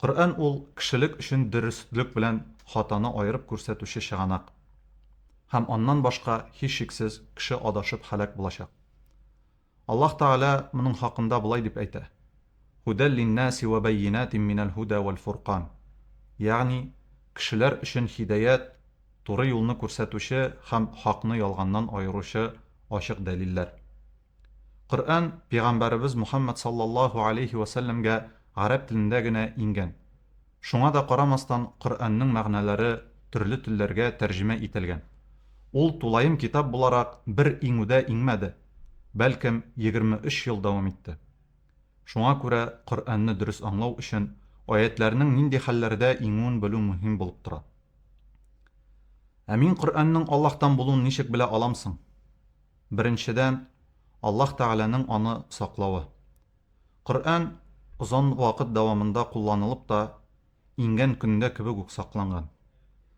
Коръән ул кешелек өчен дөреслек белән хатаны аерып күрсәтүче чыганак. Һәм аннан башка, һичшиксез, кеше адашып һәлак булачак. Аллаһ Тәгалә моның хакында болай дип әйтә, Һудәл линнаси вә бәййинатин минәл һудә вәл фуркан, ягъни, кешеләр өчен һидәят, туры юлны күрсәтүче һәм хакны ялганнан аеручы ачык дәлилләр. Коръән пигамбәребез Мухаммәд саллаллаһу алейһи вә сәлләмгә гарәп телендә генә иңгән. Шуңа да карамастан, Коръәннең мәгънәләре төрле телләргә тәрҗемә ителгән. Ул тулаем китап буларак бер иңүдә иңмәде, бәлкем, егерме өч ел дәвам итте. Шуңа күрә Коръәнне дөрес аңлау өчен аятьләрнең нинди хәлләрдә иңүен белү мөһим булып тора. Ә мин Коръәннең Аллаһтан булуын ничек белә алам соң? Беренчедән, Аллаһ Тәгаләнең аны саклавы. Коръән озын вакыт дәвамында кулланылып та, иңгән көндә кебек үк сакланган,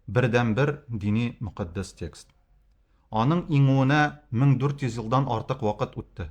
бердәнбер дини мөкатдәс текст. Аның иңүенә 1400 елдан артык вакыт үтте,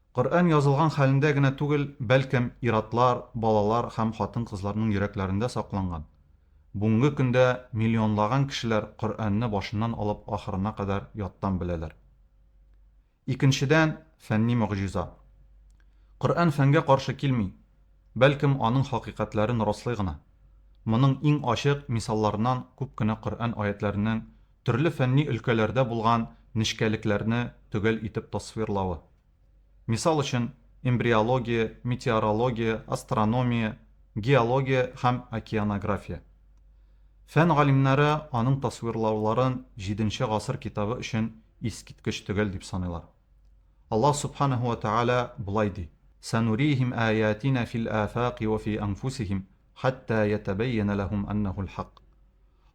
Коръән язылган хәлендә генә түгел, бәлкем, ир-атлар, балалар һәм хатын-кызларның йөрәкләрендә сакланган. Бүгенге көндә миллионлаган кешеләр Коръәнне башыннан алып ахырына кадәр яттан беләләр. Икенчедән, фәнни могҗиза. Коръән фәнгә каршы килми, бәлкем, аның хакыйкатьләрен раслый гына. Моның иң ачык мисалларыннан күп кенә Коръән аятьләренең төрле фәнни өлкәләрдә булган нечкәлекләрне төгәл итеп тасвирлавы. Мисал өчен, эмбриология, метеорология, астрономия, геология һәм океанография. Фән галимнәре аның тасвирлауларын җиденче гасыр китабы өчен искиткеч төгәл дип саныйлар. Аллаһ Субханаһу ва Тәгалә болай ди, Санурихим аятина фил афаки ва фи анфусихим хәттә ятәбәйянә ләһүм әннәһул хак.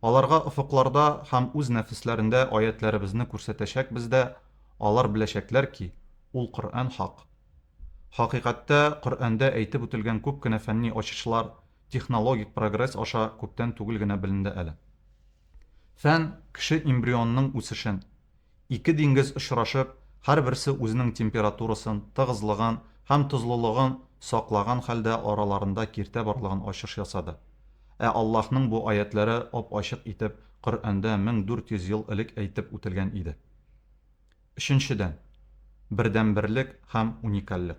Аларга офыкларда һәм үз нәфесләрендә аятьләребезне күрсәтәчәкбез дә, алар беләчәкләр ки, ул Коръән хак. Хакыйкатьтә, Коръәндә әйтеп үтелгән күп кенә фәнни ачышлар технологик прогресс аша күптән түгел генә беленде әле. Фән, кеше эмбрионының үсешен, Ике диңгез очрашып, һәрберсе үзенең температурасын, тыгызлыгын һәм тозлылыгын саклаган хәлдә араларында киртә барлыгын ачыш ясады. Ә Аллаһның бу аятьләре ап-ачык итеп Коръәндә 1400 ел элек әйтеп үтелгән иде. Өченчедән, бердәнберлек һәм уникальлек.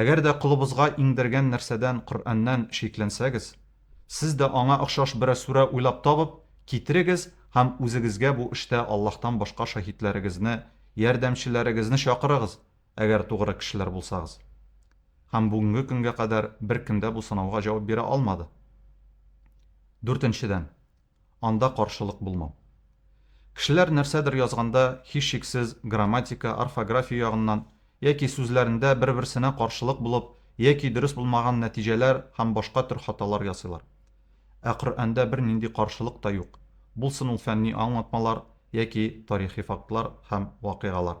Әгәр дә колыбызга иңдергән нәрсәдән, Коръәннән, шикләнсәгез, сез дә аңа охшаш берәр сүрә уйлап табып, китерегез һәм үзегезгә бу эштә Аллаһтан башка шаһитләрегезне, ярдәмчеләрегезне чакырыгыз, әгәр тугры кешеләр булсагыз. Һәм бүгенге көнгә кадәр беркем дә бу сынауга җавап бирә алмады. Дүртенчедән. анда каршылык булмау. Кешеләр нәрсәдер язганда, һичшиксез, грамматика, орфография ягыннан, яки сүзләрендә бер-берсенә каршылык булып, яки дөрес булмаган нәтиҗәләр һәм башка төр хаталар ясыйлар. Ә Коръәндә бернинди каршылык та юк, булсын ул фәнни аңлатмалар яки тарихи фактлар һәм вакыйгалар.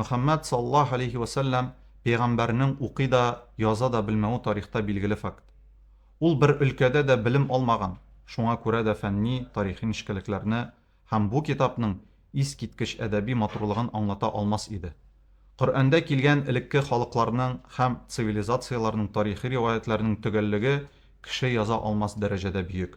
Мөхәммәд саллаллаһу алейһи вә сәлләм пәйгамбәрнең укый да, яза да белмәве тарихта билгеле факт. Ул бер өлкәдә дә белем алмаган, шуңа күрә дә фәнни, тарихи нечкәлекләрне һәм бу китапның искиткеч әдәби матурлыгын аңлата алмас иде. Коръәндә килгән элекке халыкларның һәм цивилизацияләрнең тарихи риваятьләренең төгәллеге кеше яза алмас дәрәҗәдә бөек.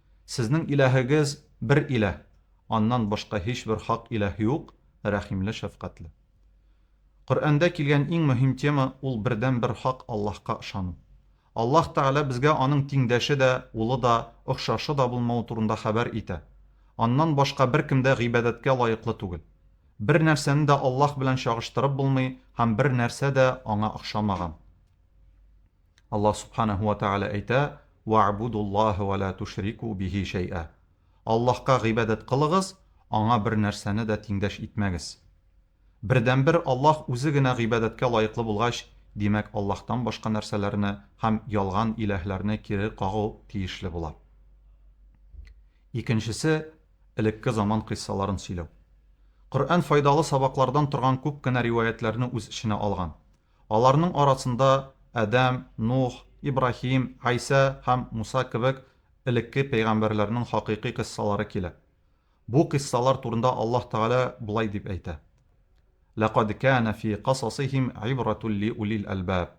Сезнең Илаһегез бер Илаһ, аннан башка һичбер хак Илаһ юк, Рәхимле, Шәфкатьле. Коръәндә килгән иң мөһим тема ул бердәнбер хак Аллаһка ышану. Аллаһ Тәгалә безгә аның тиңдәше дә, улы да, охшашы да булмавы турында хәбәр итә. Аннан башка беркем дә гыйбадәткә лаеклы түгел. Бер нәрсәне дә Аллаһ белән чагыштырып булмый һәм бер нәрсә дә аңа охшамаган. Аллаһ Сүбхәнәһү вә Тәгалә әйтә, Вә'будуллаһа вә лә тушрику бихи шәй'ә. Аллаһка гыйбадәт кылыгыз, Аңа бер нәрсәне дә тиңдәш итмәгез. Бердәнбер Аллаһ Үзе генә гыйбадәткә лаеклы булгач, димәк, Аллаһтан башка нәрсәләрне һәм ялган иләһләрне кире кагу тиешле була. Икенчесе, элекке заман кыйссаларын сөйләү. Коръән файдалы сабаклардан торган күп кенә риваятьләрне үз эченә алган. Аларның арасында Адәм, Нух, Ибраһим, Гайсә һәм Муса кебек элекке пәйгамбәрләрнең хакыйкый кыйссалары килә. Бу кыйссалар турында Аллаһ Тәгалә болай дип әйтә, Ләкад кәнә фи касасихим гыйбратул ли улил әлбаб.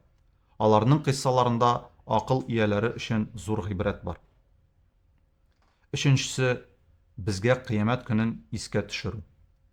Аларның кыйссаларында акыл ияләре өчен зур гыйбрәт бар. Өченчесе, безгә кыямәт көнен искә төшерү.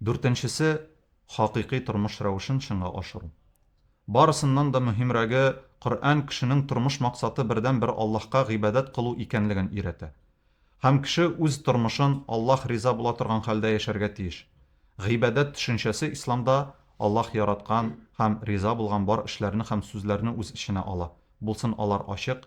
Дүртенчесе, хакыйкый тормыш рәвешен чынга ашыру. Барысыннан да мөһимрәге, Коръән кешенең тормыш максаты бердәнбер Аллаһка гыйбадәт кылу икәнлеген өйрәтә. Һәм кеше үз тормышын Аллаһ риза була торган хәлдә яшәргә тиеш. Гыйбадәт төшенчәсе Исламда Аллаһ яраткан һәм риза булган бар эшләрне һәм сүзләрне үз эченә ала, булсын алар ачык,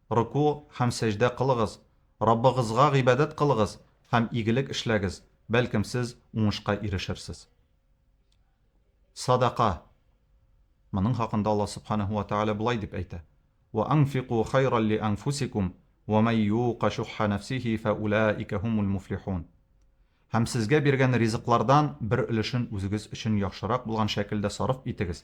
рөку һәм сәҗдә кылыгыз, Раббыгызга гыйбадәт кылыгыз һәм игелек эшләгез, бәлкем сез уңышка ирешерсез. Садака. Моның хакында Аллаһ Сүбхәнәһү вә Тәгалә болай дип әйтә, Вә анфику хайран ли анфусикум, вә мән юка шухһа нәфсихи фә улаика һумул муфлихун. Һәм сезгә биргән ризыклардан бер өлешен үзегез өчен яхшырак булган шәкелдә сарыф итегез.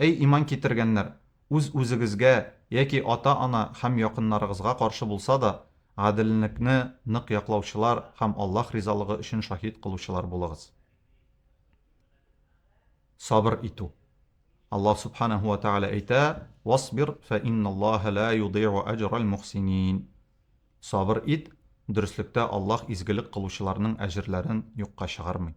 Әй, иман китергәннәр, үз-үзегезгә яки ата-ана һәм якыннарыгызга каршы булса да, гаделлекне нык яклаучылар һәм Аллаһ ризалыгы өчен шаһит кылучылар булыгыз. Сабыр итү. Аллаһ Сүбхәнәһү вә Тәгалә әйтә, Васбир, фә инналлаһа лә юдыйгу әҗрәл мөхсинин. Сабыр ит, дөреслектә Аллаһ изгелек кылучыларның әҗерләрен юкка чыгармый.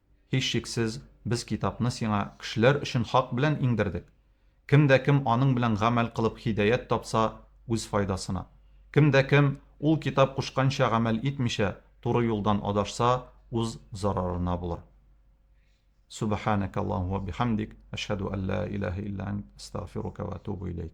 Һичшиксез, без китапны сиңа кешеләр өчен хак белән иңдердек. Кем дә кем аның белән гамәл кылып һидәят тапса, үз файдасына. Кем дә кем, ул китап кушканча гамәл итмичә, туры юлдан адашса, уз зарарына булыр. Сүбәхәнәкәллаһу ва бихәмдик, әшһәду ан ла илаһә илля әнт, әстәгъфирука ва атубу иләйк.